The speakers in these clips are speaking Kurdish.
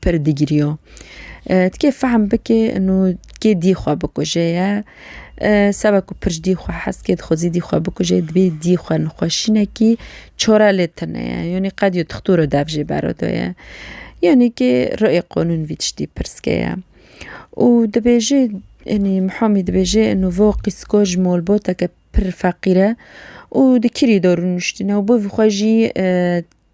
Pir digiriyo. Tikê fehm bikê ino kê dî xwe bikujê ye. Seba ku pir ji dî xwe hes dikê, dixwazî dî xwe bikujê dibê dî xwe nixweşînekî çora lê tune ye. Yanî qet yo tixtûro dev jê bero do ye. Yanî kê riê qanûn vî tiştî pirsgê ye. Û dibêje yanî Muhamî dibêje ino vo qîsko ji malbateke pir feqîr e û di kirî de rûniştîne û bo vî xwe jî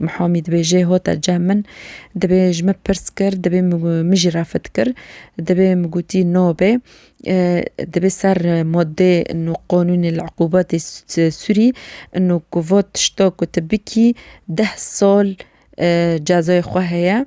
Mihamî dibê jê hota cem min. Dibê ji min pirs kir, dibê min jî refet kir. Dibê min gotî no be. Dibê ser madde inu qanûnê li iqûbetê Sûrî inu ku vat tişta ku tu bikî deh sal cezayê xwe heye